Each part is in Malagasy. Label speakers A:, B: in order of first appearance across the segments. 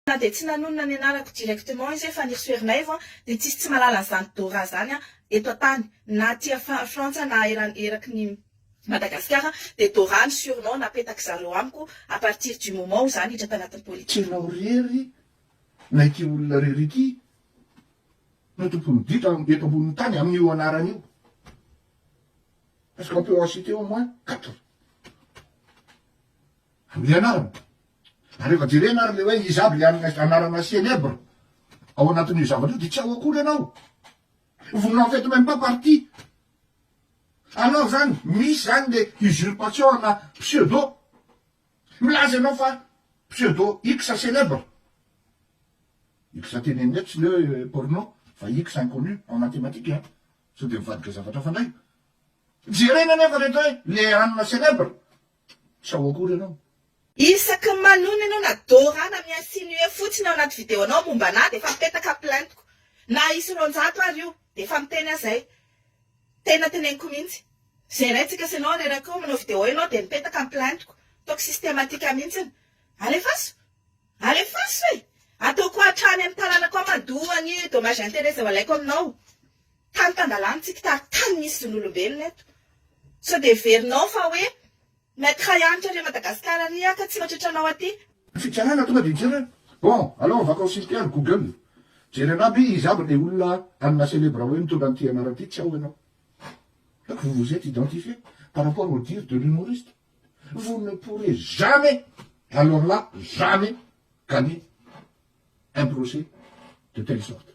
A: Na dia tsy nanonona ny anarako directement izy fa nirsoerinaivo an, dia tsisy tsy malala an'izany Dora zany an eto antany, na aty a frantsa na eran eraky ny Madagasikara dia Dora ny surnom napetak zareo amiko à partir du moment où za niditra tanatin'ny politika. Enao rery
B: na ity olona rery ity no tompon'ny ditra eto ambonin'ny tany amin'io anarana io parce qu'on peut en citer au moins quatre amin'ny anarana. Rehefa jerena ary le hoe iza aby le anarana célèbre ao anatin'io zavatra io de tsy ao akory ianao. Vous n'en faites même pas partie. Alors zany misy zany le usurpation ana pseudo. Milaza ianao fa pseudo X célèbre. X tenenina eto tsy le hoe porno fa X inconnu en mathematique a. Sao de mivadika zavatra hafa ndray. Jerena nefa rehetra hoe le anona célèbre Sao akory ianao? Isaky ny
A: manonona ianao na Dora na mi-insinuer fotsiny ao anaty video anao momba anah dia efa mipetaka plaintiko. Na hisy roanjato ary io dia efa miteny aho izay. Tena teneniko mihitsy. Izay raintsika sy ianao reraka eo manao video ianao dia mipetaka ny plaintiko. Ataoko systematique mihitsiny. Alefaso! Alefaso e! Ataoko hatrany amin'ny tanànako ao mandoa ny dommages intérêts izay ho alaiko aminao. Tany tan-dalàna tsy mpitari tany misy zon'olombelona eto. Sao dia heverinao fa hoe Maître
B: ihany kary Madagascar ary aho ka tsy mihotratra anao aty. Fitsarana tonga dia mijery hoe bon alao avakao ny sisitry ary google jery anah be iza aby le olona anona célèbre hoe mitondra an'ity anarana ity tsy ao ianao donc vous vous etes identifier par rapport au dire de l'humoriste vous ne pourrez jamais alors là jamais gagner un procès de telle sorte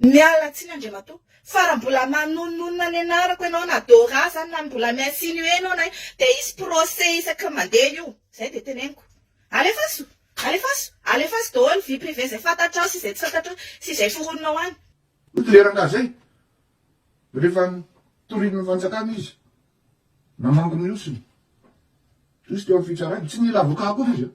B: Miala tsiny
A: Andriamatoa fa raha mbola manononona ny anarako ianao na Dora zany na mbola mi insinuer ianao na ino dia hisy procès isaky ny mandeha io. Izay dia teneniko. Alefaso! Alefaso! Alefaso daholo vie privée izay fantatrao sy izay tsy fantatrao sy izay foroninao any. Hoy ity rangahy izay
B: rehefa torian'ny fanjakana izy namangy ny osiny, hoy izy teo amin'ny fitsarana, tsy nila avocat akory izy an!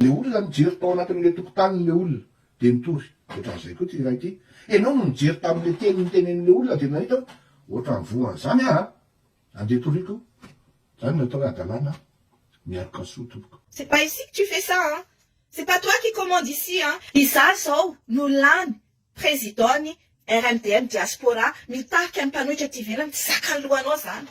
B: Le olona nijery tao anatin'ilay tokotaniny ilay olona dia nitory. Ohatran'izay koa ity iray ity. Ianao no nijery tamin'ilay teny notenenin'ilay olona dia nahita hoe ohatran'ny voan'izany aho an! Andeha toriako izany no atao hoe hadalana an! Mialoka soa tompoko. C'est pas ici que tu fais
A: ça an! C'est pas toi qui commande ici an! Izaho izao no lany Président-n'ny RMDM Diaspora mitarika ny mpanohitra aty ivelany, tsy zakan'ny lohanao izany.